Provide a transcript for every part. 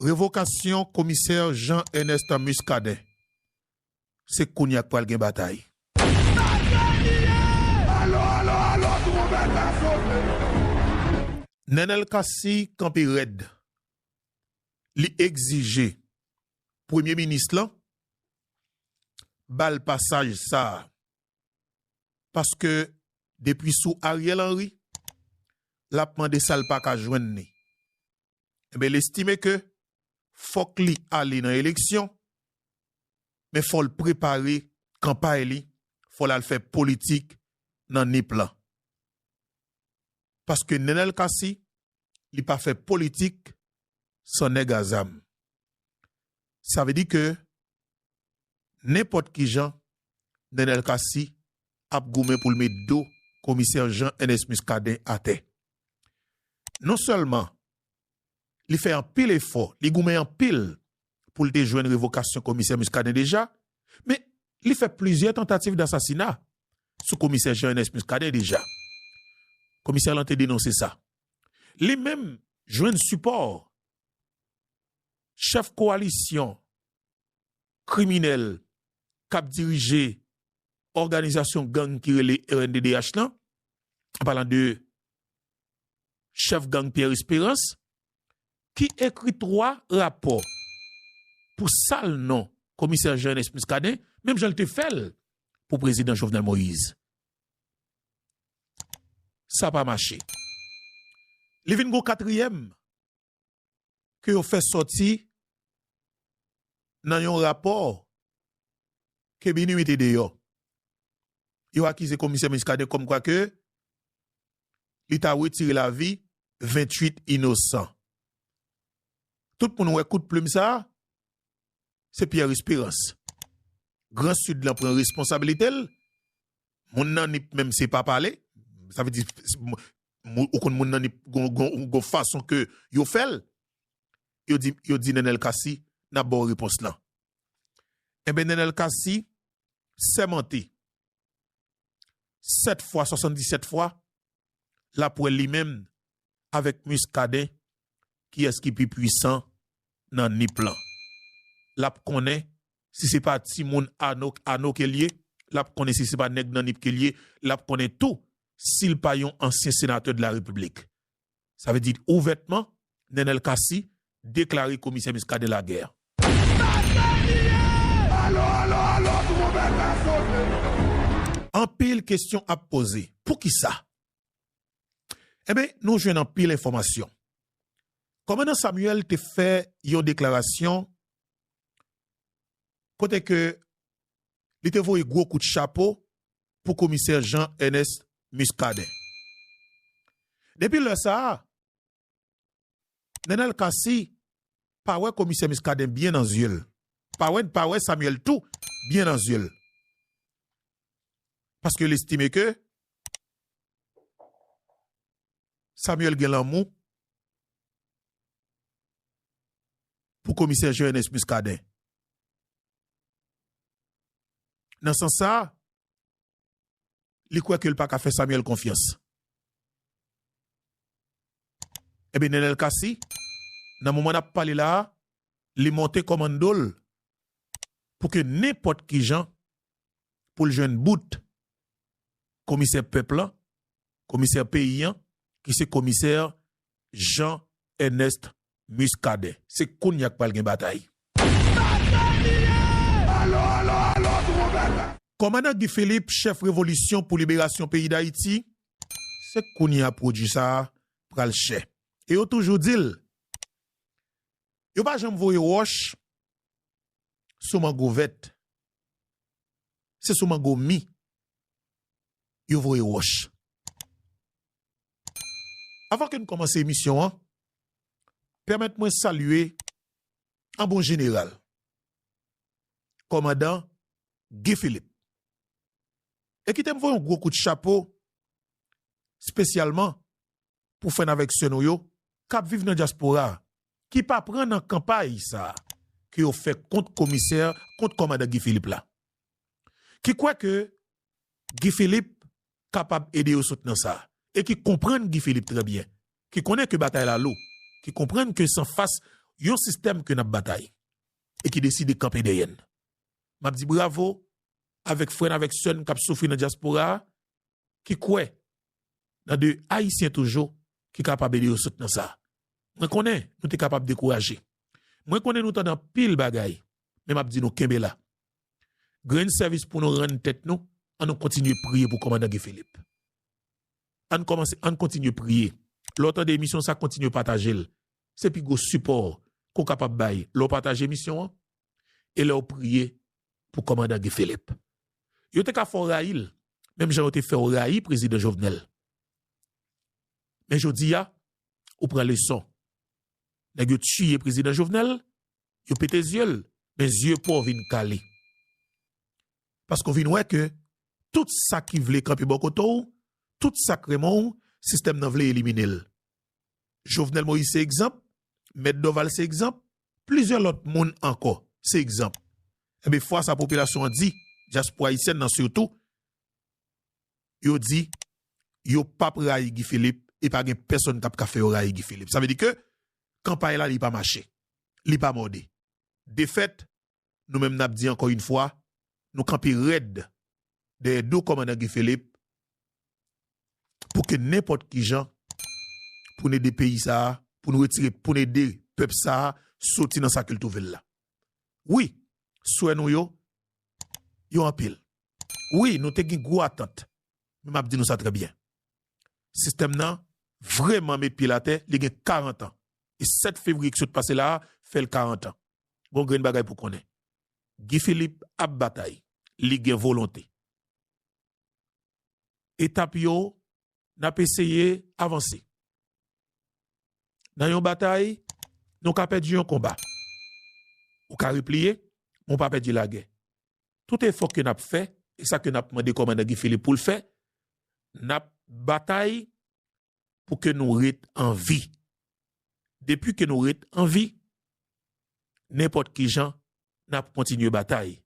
Revokasyon komisè Jean Ernest Muscadin, se kounye a k pral gen batay. Nenel Cassy kanpe rèd, li egzije premye minis lan ba l pasaj sa a. paske depi sou Ariel Henry lap mande sal paka jwenn ni enben lestime ke fòk li ale nan eleksyon men fòl prepare kanpay li fòl al fè politik nan nip lan paske Nenel Cassy li pa fè politik san nèg a zam sa vle di ke nenpòt kijan Nenel Cassy ap goumen pou l met do komisè Jean Ernest Muscadin atè. Non sèlman li fè anpil efò, li goumen anpil pou l te jwenn revokasyon komisè Muscadin deja, men li fè plizyè tantativ dasasina sou komisè Jean Ernest Muscadin deja. Komisè lan te denonse sa. Li menm jwenn sipò chèf kowalisyon kriminèl k ap dirije òganizasyon gang ki rele rnddh lan, an palan de chèf gang Pierre Esperance, ki ekri 3 rapò pou sal non komisè Jean Ernest Muscadin, menm jan l te fè l pou prezidan Jovenel Moïse. Sa pa mache. Li vin gen yon katriyèm. ke yo fè sòti nan yon rapò ke Minuit te deyò. Yo akize komisè Muscadin kòmkwa ke li ta wetire lavi 28 inosan. Tout moun wè kout plim sa a, se Pierre Esperance. Gran Sid lan pran responsabilite l, moun nan Nip menm se pa pale, sa vle di ou konn moun nan li gon fason ke yo fèl yo di nenel cassy nap baw repons lan enben nenel cassy sèmante 7 fwa 77 fwa lap wè li menm avèk muscadin kiyès ki pi pwisan nan nip lan lap konnen si se pa timoun ano kel ye lap konnen si se pa nèg nan nip kel ye lap konnen tou si l pa yon ansyen senatè de la Repiblik. Sa vle di ouvètman, Nenel Cassy deklare komisè Muscadin lagè. Anpil kesyon ap poze, poukisa? Enben, nou jwenn anpil enfòmasyon. Kòmandan Samuel te fè yon deklarasyon kote ke li te voye gwo kout chapo pou komisè Jean Ernest Muscadin. Depi lè sa a, Nenel Cassy pa wè komisè Muscadin byen nan zye l, pa wè n pa wè Samuel tou byen nan zye l, paske l estime ke Samuel gen lanmou pou komisè Jean Ernest Muscadin. Nan sans sa, li kwè ke li pa ka fè Samuel konfyans. Enben Nenel Cassy, nan moman n ap pale la a, li monte kòmando l pou ke nenpòt ki jan pou l jwenn bout komisè pèp lan, komisè peyi an, ki se komisè Jean Ernest Muscadin. Se kounya k pral gen batay. Kòmandan Guy Philippe chèf revolisyon pou liberasyon peyi Dayiti se kounya pwodui sa a pral chè. E yo toujou di l yo pa janm voye wòch sou mango vèt. Se sou mango mi yo voye wòch. Avan ke n kòmanse emisyon an, Pèmèt mwen salye an bon jeneral kòmandan Guy Philippe. E kite m voye yon gwo kout chapo spesyalman pou frè n avèk sè nou yo k ap viv nan dyaspora a ki pa pran nan kanpay sa a ke yo fè kont komisè, kont kòmandan Guy Philippe la. Ki kwè ke Guy Philippe kapab ede yo sot nan sa, e ki konprann Guy Philippe trè byen, ki konnen ke batay la lou, ki konprann ke san fas yon sistèm ke nap batay, e ki deside kanpe dèyè n. Map di bravo avèk frè n avèk sè n kap soufri nan dyaspora a, ki kwè nan de Ayisyen toujou ki kapab ede yo sot nan sa. Mwen konnen nou te kapab dekouraje, mwen konnen nou tande anpil bagay, men map di nou kenbe la, Grenn sèvis pou nou rann tèt nou, an nou kontinye priye pou kòmandan Guy Philippe. An kòmanse, an kontinye priye. Lè w tande emisyon sa kontinye pataje l. Se pi gwo sipò ke w kapab bay lè w pataje emisyon an e lè w priye pou kòmandan Guy Philippe. Yo te ka fè w rayi l menm jan yo te fè w rayi prezidan Jovenel. Men jodi a, ou pran leson. Nèg yo tiye prezidan Jovenel, yo pete zye l, men zye pa w vin kale. Paske w vin wè ke tout sa ki vle kanpe bò kote w, tout sa k renmen w, sistèm nan vle elimine l. Jovenel Moïse se egzanp, Mèt Dorval se egzanp, plizyè lòt moun ankò se egzanp. Enben fwa sa popilasyon an di, dyaspora ayisyèn nan sitou, yo di yo p ap rayi Guy Philippe e pa gen pèsonn k ap ka fè yo rayi Guy Philippe. Sa vle di ke kanpay la li pa mache, li pa mòde. Defèt, nou menm n ap di ankò yn fwa, nou kanpe rèd dèyè do kòmandan Guy Philippe pou ke nenpòt ki jan pou n ede peyi sa a, pou n retire, pou n ede pèp sa a soti nan sa ke l twouve l la. Wi, swè nou yo, yo anpil. Wi, nou te gen gwo atant, men m ap di nou sa trè byen. Sistèm nan vrèman met pye l atè, li gen 40 an. E 7 fevriye ki sot pase la a fè l 40 an. Gen yon grenn bagay pou w konnen, Guy Philippe ap batay, li gen volonte. Etap yo, n ap eseye avanse. Nan yon batay, nou ka pèdi yon konba. Ou ka repliye, men w pa pèdi lagè. tout efò ke n ap fè, e sa ke n ap mande kòmandan Guy Philippe pou l fè, n ap batay pou ke nou ret an vi. Depi ke nou ret an vi, nenpòt ki jan, n ap kontinye batay.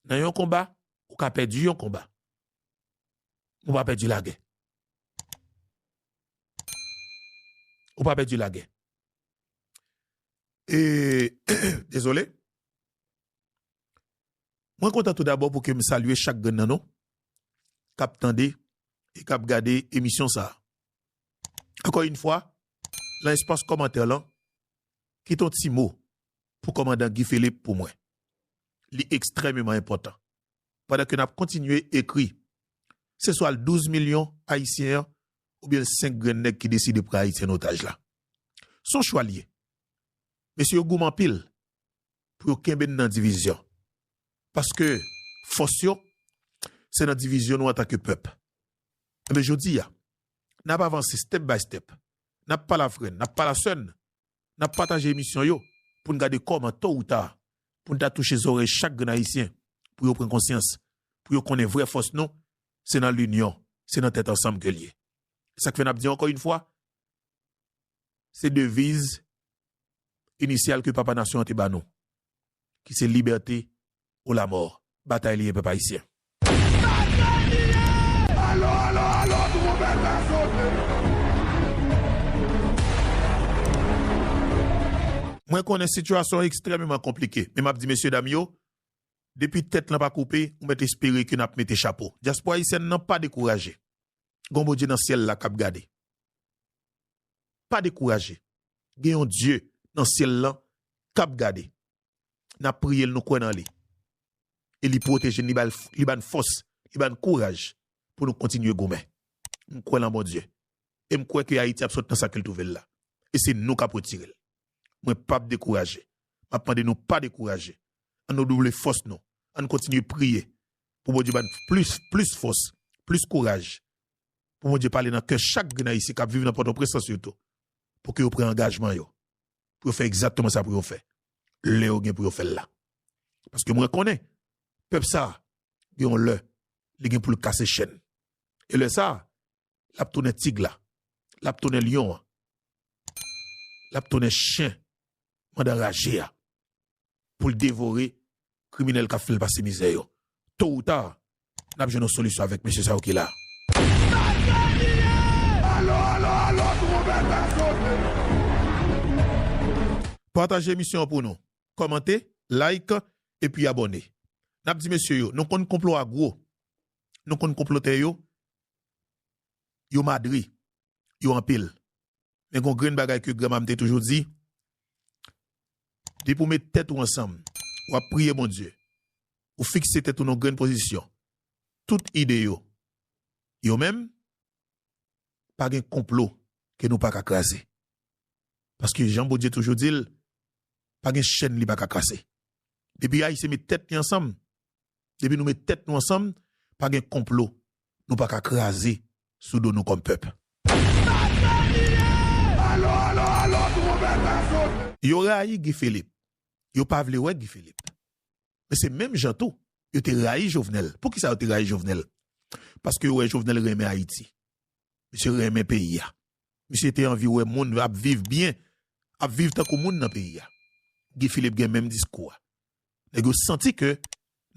Nan yon konba, ou ka pèdi yon konba, men ou pa pèdi lagè. Ou pa pèdi lagè. E, dezole, Mwen kontan tou dabò pou ke m salye chak grenn nan nou k ap tande e k ap gade emisyon sa a. Ankò yn fwa, lan espas kòmantè lan, kite yon ti mo pou kòmandan Guy Philippe pou mwen. Li ekstrèmeman enpòtan. Pandan ke n ap kontinye ekri, se swa l 12 milyon Ayisyen an oubyen l 5 grenn nèg ki deside pran Ayiti an otaj la. S on chwa l ye. Mesye yo goumen anpil pou yo kenbe n nan divizyon. Paske fòs yo se nan divizyon nou antanke pèp. Enben jodi a, n ap avanse step by step, n ap palavre, n ap palasè, n ap pataje emisyon yo pou n gade kòman to ou ta pou n ta touche zòrèy chak grenn Ayisyen pou yo pran konsyans, pou yo konnen vrè fòs nou se nan linyon, se nan tèt ansanm ke l ye. E sa k fè n ap di ankò yn fwa, se deviz inisyal ke papa nasyon an te ba nou, ki se libète ou lamò. Batay li ye pèp ayisyen. Batay li ye! Alo, alo, alo, tronpèt la sote! Mwen konnen sitiyasyon an ekstrèmeman konplike, men m ap di mesye dam yo, depi tèt lan pa koupe, ou mèt espere ke n ap mete chapo. Dyaspora ayisyèn nan pa dekouraje. Gon Bondye nan syèl la k ap gade. Pa dekouraje. Gen yon Dye nan syèl lan k ap gade. N ap priye l, nou kwè nan li. E li pwoteje n, li ba n fòs, li ba n kouraj pou nou kontinye goumen. M kwè lan Bondye. E m kwè ke Ayiti ap sot nan sa ke l twouve l la. E se nou k ap retire l. Mwen pap dekouraje. M ap mande nou pa dekouraje. An nou double fòs nou. An n kontinye priye pou Bondye ba n plis fòs, plis kouraj pou Bondye pale nan kè chak grenn Ayisyen k ap viv nan Pòtoprens lan sitou, pou ke yo pran angajman yo, pou yo fè egzakteman sa pou yo fè, lè yo gen pou yo fè l la. Paske mwen konnen, pèp sa a, gen yon lè, li gen pou l kase chenn. E lè sa a, l ap tounen tig la, l ap tounen lyon an, l ap tounen chen manda raje a. pou l devore kriminèl kap fè l pase mizè yo. To ou ta, nap jwenn yon solisyon avèk mesye sa yo ki la. Pataje emisyon an pou nou, kòmante, like epi abòne. Nap di mesye yo, nou konn konplo a gwo, nou konn konplotè yo, yo madre, yo anpil. Men gon grenn bagay ke granma m te toujou di, depi w met tèt ou ansanm, w ap priye Bondye, ou fikse tèt ou nan yon grenn pozisyon, tout ide yo, yo menm, pa gen konplo ke nou paka kraze. Paske jan Bondye toujou di l, pa gen chèn li paka kase. Depi Ayisyen met tèt li ansanm, depi nou met tèt nou ansanm, pa gen konplo nou paka kraze sou do nou kòm pèp. Yo rayi Guy Philippe, yo pa vle wè Guy Philippe. Men se menm jan tou, yo te rayi Jovenel. Pou ki sa yo te rayi Jovenel? Paske yo wè Jovenel renmen Ayiti. Misye renmen peyi a. Misye te anvi wè moun ap viv byen, ap viv tankou moun nan peyi a. Guy Philippe gen menm diskou a. nèg yo santi ke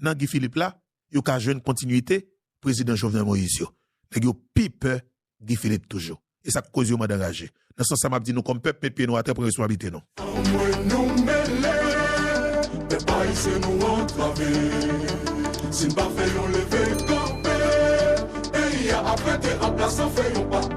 nan Guy Philippe la yo ka jwenn kontinyite prezidan Jovenel Moïse yo. Nèg yo pi pè Guy Philippe toujou. E sa k koz yo mande anraje. Nan sans sa m ap di nou kòm pèp met pye nou atè pran responsablite nou. Anmwey nou mele, pèp ayisyen nou antrave Si n pa fè yon leve kanpe Peyi a ap rete anplas san fè yon pa.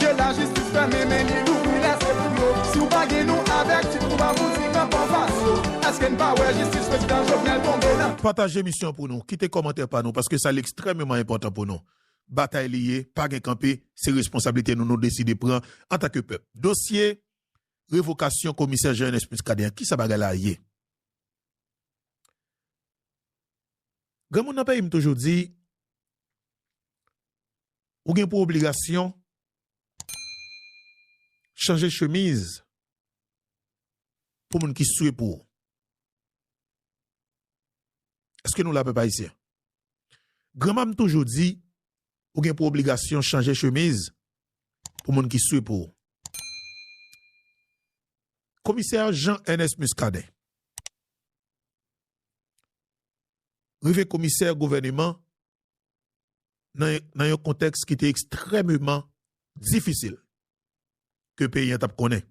Ke la jistis fèmen men li louvri lè se pou yo Si w pa gen nou avèk ti twou pa fouti pran pòz aso Eske n pa wè jistis prezidan Jovenel tonbe nan. Pataje emisyon an pou nou, kite kòmantè pa nou paske sa li ekstrèmeman enpòtan pou nou. Batay li ye, pa gen kanpe, se responsablite nou nou deside pran antanke pèp. Dosye revokasyon komisè Jean Ernest Muscadin an, kisa bagay la ye? Granmoun nan peyi m toujou di, Ou gen pou obligasyon chanje chemiz pou moun ki swe pou ou. Eske nou la pèp ayisyen? Granma m toujou di, ou gen pou obligasyon chanje chemiz pou moun ki swe pou ou. Komisè Jean Ernest Muscadin. rive komisè gouvèneman nan yon kontèks ki te ekstrèmeman difisil ke peyi an t ap konnen,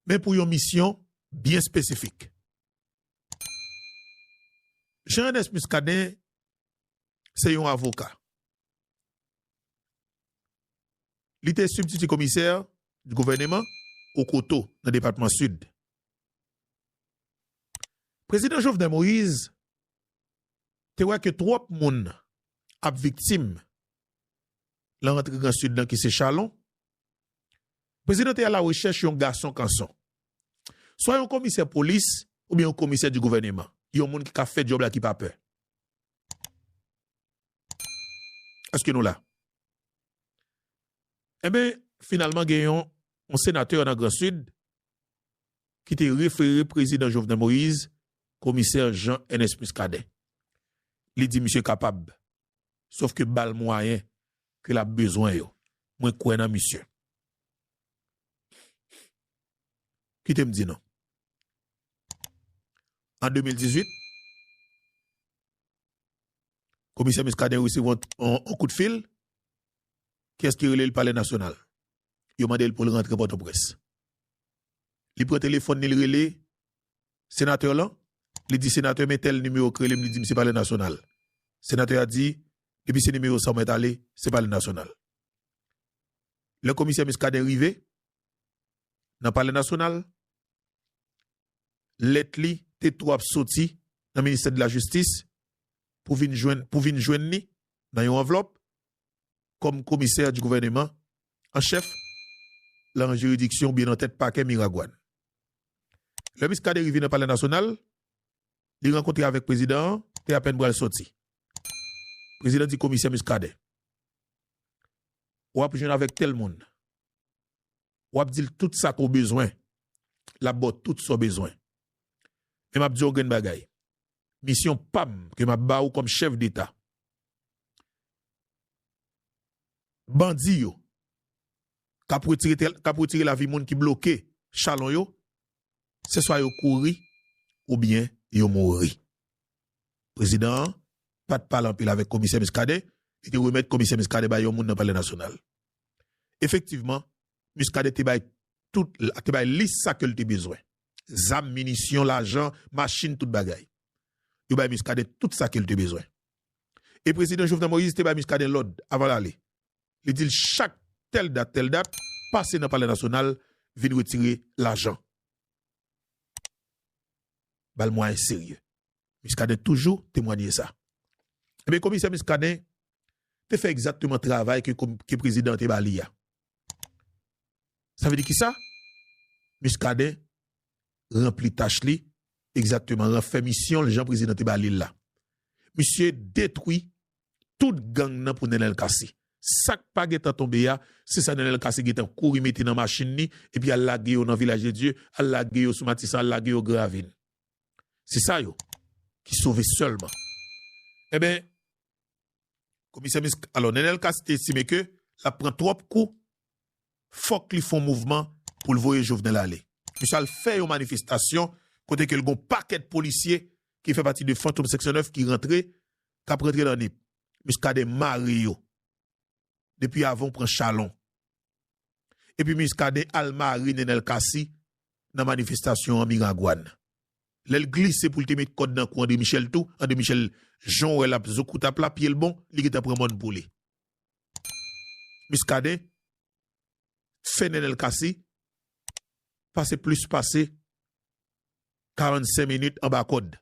men pou yon misyon byen espesifik. Jean Ernest Muscadin se yon avoka. Li te sibtiti komisè gouvèneman Okoto nan depatman Sid Prezidan Jovenel Moise te wè ke twòp moun ap viktim lan rantre Gran Sid lan ki se Chalon. Prezidan te alarechèch yon gason kanson. Swa yon komisè polis oubyen yon komisè di gouvèneman. Yon moun ki ka fè djòb la ki pa pè. Eske nou la? Enben, finalman gen yon senatè nan Gran Sid ki te refere prezidan Jovenel Moïse komisè Jean Ernest Muscadin. Li di misye kapab, sof ke ba l mwayen ke l ap bezwen yo. Mwen kwè nan misye. Kite m di nou, an 2018, komisè Muscadin resevwa yon kout fil, ki eske rele l palè nasyonal. yo mande l pou l rantre Pòtoprens. Li pran telefòn li, li rele senatè lan, li di, Senatè, men tèl nimewo k rele m, li di m se Palè Nasyonal. Senatè a di, Depi se nimewo sa w mèt ale, se Palè Nasyonal. Lè komisè Muscadin rive nan Palè Nasyonal, lèt li te tou ap soti nan Ministè de la Justice pou vin jwenn li nan yon anvlòp, kòm komisè di gouvèneman an chèf lan jiridiksyon oubyen nan tèt pakè Miragwàn. Lè Miskaden rive nan palè nasyonal, li rankontre avèk prezidan an te apèn pral sòti. Prezidan di komisè Miskaden, W'ap jwenn avèk tèl moun, w'ap di l tout sa ke w bezwen, l'ap ba w tout sa w bezwen. Men m'ap di w yon grenn bagay, misyon pa m ke m'ap ba ou kòm chèf deta, bandi yo k ap retire lavi moun ki bloke chalon yo, se swa yo kouri oubyen yo mouri. Prezidan an pa t pale anpil avèk Komisè Muscadin, li te remèt Komisè Muscadin bay yon moun nan Palè Nasyonal. Efektivman, Muscadin te bay tout, te bay lis sa ke l te bezwen, zam, minisyon, lajan, machin, tout bagay. Yo bay Muscadin tout sa ke l te bezwen. E prezidan Jovenel Moïse te bay Muscadin lòd avan l ale. Li di l chak tèl dat, tèl dat, pase nan palè nasyonal vin retire lajan. Ba l mwayen serye. Muscadin toujou temwanye sa. Ebyen komisè Muscadin te fè egzakteman travay ke prezidan an te ba li a. Sa vle di kisa? Muscadin ranpli tach li, egzakteman ran fè misyon l jan prezidan te ba li l la. Misye detwi tout gang nan pou Nenel Cassy. Sa k pa gentan tonbe a, se sa Nenel Cassy gentan kouri mete nan machin li epi al lage yo nan Vilaj de Dye, al lage yo sou Matisan, al lage yo Gravin. Se sa yo ki sove sèlman. Enben, Komisè Misk alò Nenel Casse te estime ke lap pran twòp kou fòk li fon mouvman poul voye Jovenel ale. Misye al fè yon manifestasyon kote ke l gon pakèt polisye ki fè pati de Fantom seksyon 9 ki rantre kap rantre nan Nip. Muscadin mare yo depi avan ou pran chalon. epi Muscadin al mare Nenel Cassy nan manifestasyon an Miragwàn. Lè l glise pou l te met kòd nan kou André Michel tou, André Michel, jan w wè l ap zoukoutap la, pye l bon, li gentan pran mòn pou li. Muscadin fè Nenel Cassy pase plis pase 45 minit anba kòd.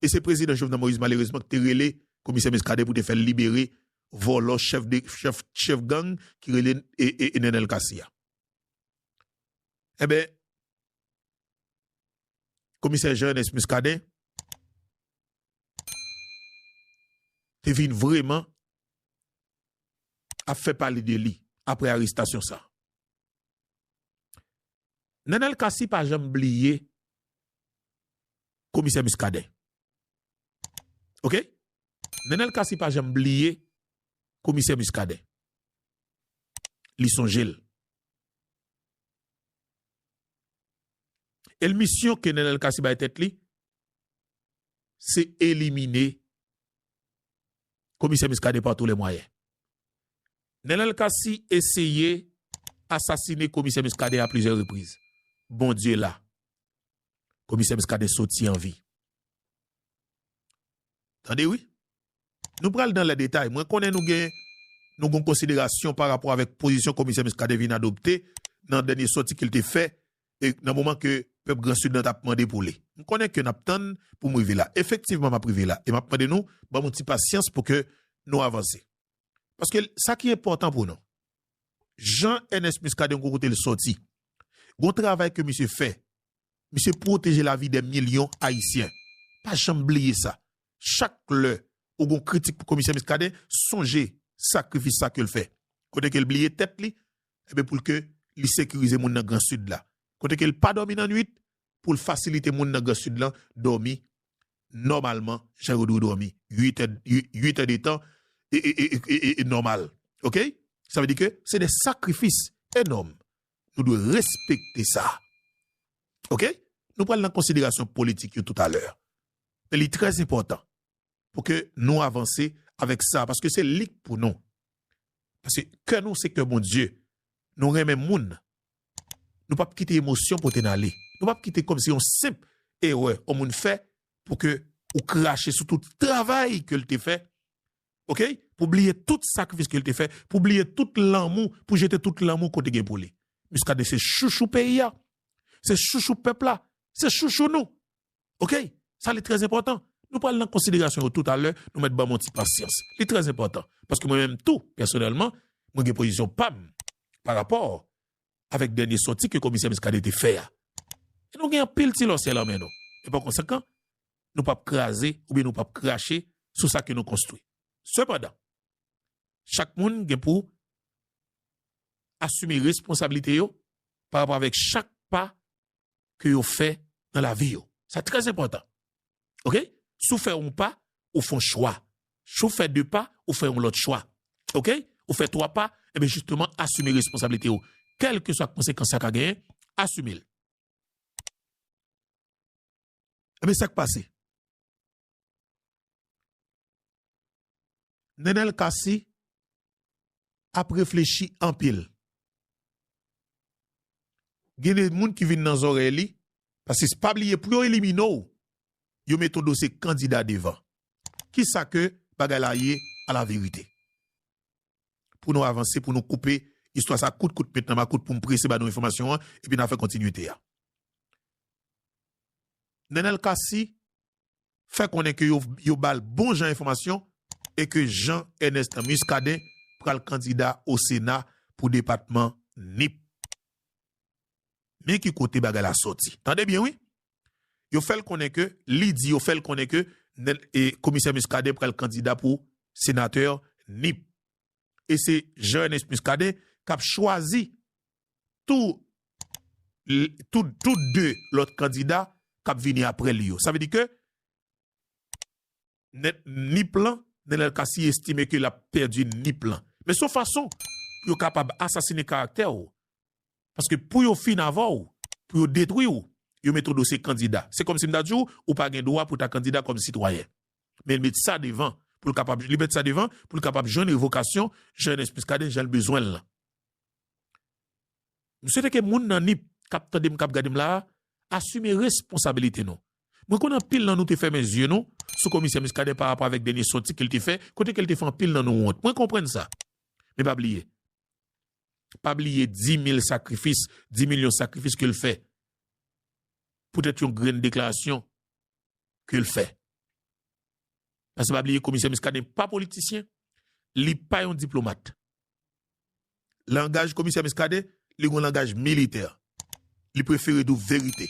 e se prezidan Jovenel Moïse malerezman ki te rele komisè Muscadin pou te fè l libere vòlò chèf gang ki rele Nenel Cassy a. Enben, komisè Jean Ernest Muscadin te vin vreman ap fè pale de li apre arestasyon sa a. Nenel Cassy pa janm bliye komisè Muscadin ok Nenel Cassy pa janm bliye komisè Muscadin li sonjel el misyon ke Nenel Cassy bay tèt li se elimine Komisè Muscadin par tous les moyens. Nenel Cassy eseye asasine Komisè Muscadin a plizyè repriz. Bondye la. Komisè Muscadin soti an vi. Tande wi. Nou pral dan lè detay. Mwen konnen nou gen nou gon konsiderasyon pa rapò avèk pozisyon Komisè Muscadin vin adopte nan dènye soti ke l te fè nan moman ke pèp gran Sid lan tap mande pou li. M konnen ke nap tann pou m rive la. Efektivman map rive la e map mande nou banm yon ti pasyans pou ke nou avanse. Paske sa ki enpòtan pou nou, Jean Ernest Muscadin gon kote l sòti, gon travay ke misye fè, misye pwoteje lavi dè milyon Ayisyen. Pa janm bliye sa. Chak lè ou gon kritik pou Komisè Muscadin, sonje sakrifis sa ke l fè. Kote ke l bliye tèt li, enben pou l ke li sekirize moun nan gran sid la, kote ke l pa dòmi nan nwit, pou l fasilite moun nan gran sid lan dòmi nòmalman jan yo dwe dòmi, 8 è, 8 è de tan e nòmal. Ok? Sa vle di ke se de sakrifis enòm. Nou dwe respekte sa. Ok? Nou pral nan konsiderasyon politik yo toutalè. Men li trè enpòtan. pou ke nou avanse avèk sa, paske se li k pou nou. Paske kè nou se kè Bondye, nou renmen moun, nou pap kite emosyon pote n ale, nou pap kite kòmsi yon senp erè yon moun fè pou ke ou krache sou tout travay ke l te fè, ok, pou bliye tout sakrifis ke l te fè, pou bliye tout lanmou, pou jete tout lanmou ke w te gen pou li. Muscadin se chouchou peyi a, se chouchou pèp la, se chouchou nou, Ok, sa li trè enpòtan. Nou pral nan konsiderasyon yo toutalè, nou mèt ban mwen yon ti pasyans. Li trè enpòtan, paske mwen menm tou, pèsonèlman, mwen gen pozisyon pa m pa rapò avèk dènye sòti ke komisè Muscadin te fè a. E nou gen anpil ti lòsyè lan men nou. E pa konsekan, nou pap kraze oubyen nou pap krache sou sa ke nou konstwi. Sepandan, chak moun gen pou asime responsabilite yo pa rapò avèk chak pa ke yo fè nan lavi yo. Sa trè enpòtan. Ok? Si w fè yon pa, ou fè yon chwa. Si w fè de pa, ou fè yon lòt chwa. Ok? Ou fè twa pa, enben jisteman asime responsablite yo. Kèlkeswa konsekans sa ka genyen, asime l. Enben sa k pase? Nenel Cassy ap reflechi anpil. Gen de moun ki vin nan zòrèy li, paske pa bliye pou yo elimine w, yo mete yon dosye kandida devan. Ki sa ke bagay la ye alaverite? Pou nou avanse, pou nou koupe istwa sa kout kout met nan makout pou m prese ba nou enfòmasyon an epi n a fè kontinite a. Nenel Cassy fè konnen ke yo ba l bon jan enfòmasyon e ke Jean Ernest Muscadin pral kandida o Sena pou depatman Nip. Men ki kote bagay la sòti. Tande byen wi! Yo fè l konnen ke, li di yo fè l konnen ke komisè Muscadin pral kandida pou senatè Nip. E se Jean Ernest Muscadin k ap chwazi tou tout 2 lòt kandida kap vini aprè li yo. Sa vle di ke Nip lan, Nenel Cassy estime ke lap pèdi Nip lan. Men son fason pou yo kapab asasine karaktè ou. Paske pou yo fin avè ou, pou yo detwi ou, yo met ou dosye kandida. Se kòm si m ta di ou, ou pa gen dwa pou ta kandida kòm sitwayen. Men li met sa devan pou l kapab jwenn revokasyon Jean Ernest Muscadin jan l bezwen l lan. M swete ke moun nan Nip k ap tande m, k ap gade m la a, asime responsabilite nou. Mwen konnen anpil nan nou te fèmen zye nou sou Komisè Muscadin pa rapò avèk dènye sòti ke l te fè, kote ke l te fè anpil nan nou wont. Mwen konprann sa. Men pa bliye, pa bliye di mil sakrifis, di milyon sakrifis ke l fè poutèt yon grenn deklarasyon ke l fè. Pase pa bliye komisè Muscadin pa politisyen, li pa yon diplomat. Langaj komisè Muscadin, li gon langaj militè. Li prefere di w verite.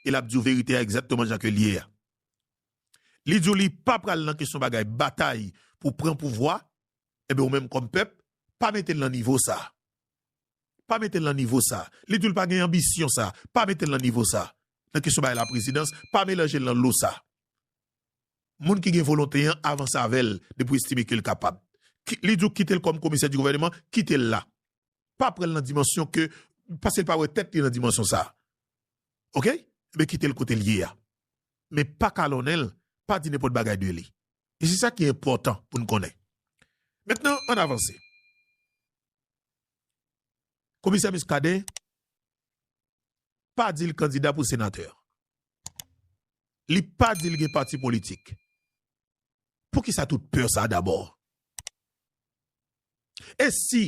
E l ap di w verite a egzatteman jan ke l ye a. Li di w li pa pral nan kesyon bagay batay pou pran pouvwa, enben ou menm kòm pèp, pa mete l nan nivo sa. Pa mete l nan nivo sa. Li di w li pa gen anbisyon sa. Pa mete l nan nivo sa. Nan kesyon bay laprezidans, pa melanje l nan lo sa. Moun ki gen volonte an avanse avè l depi w estime ke l kapab. Li di w kite l kòm komisè di gouvèneman, kite l la. Pa pran l nan dimansyon ke, paske l pa wè tèt li nan dimansyon sa. Ok? Enben kite l kote l ye a. Men pa kalonnen l, pa di nenpòt bagay de li. E se sa ki enpòtan pou n konnen. Mentnan, ann avanse. Komisè Muscadin, pa di l kandida pou senatè. Li pa di l gen pati politik. Poukisa tout pè sa dabò? E si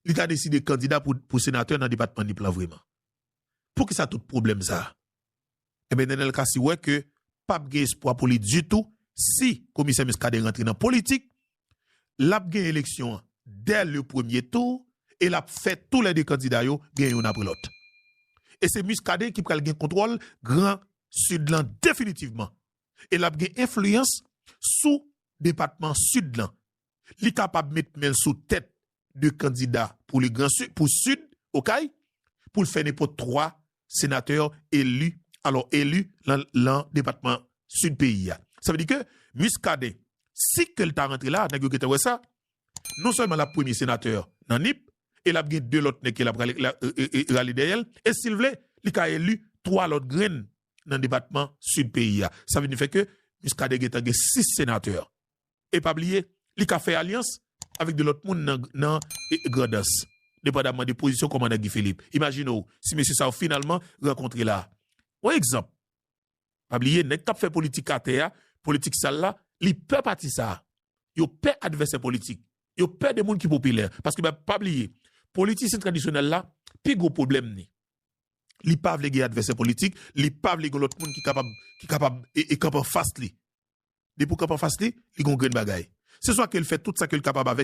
li ta deside kandida pou senatè nan depatman Nip lan vreman? Poukisa tout pwoblèm sa? Enben Nenel Cassy wè ke pap gen espwa pou li ditou si Komisè Muscadin rantre nan politik, lap gen eleksyon an dè le premye tou e lap fè tou lè 2 kandida yo gen youn apre lòt. E se Muscadin ki pral gen kontwòl gran Sid lan definitivman e lap gen enfliyans sou depatman Sid lan. Li kapab met men l sou tèt 2 kandida pou le gran sud, pou sud Okay, pou l fè nenpòt 3 senatè eli, alò eli lan depatman sud peyi a. Sa vle di ke Muscadin, si ke l ta rantre la, nèg yo gentan wè sa, non sèlman l ap premye senatè nan Nip, e l ap gen 2 lòt nèg ke l ap rale dèyè l, e si l vle, li ka eli 3 lòt grenn nan depatman sud peyi a. Sa vin fè ke Muscadin gentan gen 6 senatè e pa bliye li ka fè alyans avèk 2 lòt moun nan Grandans, depandamman de pozisyon kòmandan Guy Philippe. Imajine w si mesye sa yo finalman rankontre la. Yon egzanp, pa bliye nèg k ap fè politik atè a, politik sal la, li pè pati sa a. Yo pè advèsè politik, yo pè de moun ki popilè. Paske pa bliye, politisyen tradisyonèl la, pi gwo pwoblèm ni, li pa vle gen advèsè politik, li pa vle gen lòt moun ki kapab kanpe anfas li. Depi w kanpe anfas li, li gen yon grenn bagay. Se swa ke l fè tout sa ke l kapab avèk.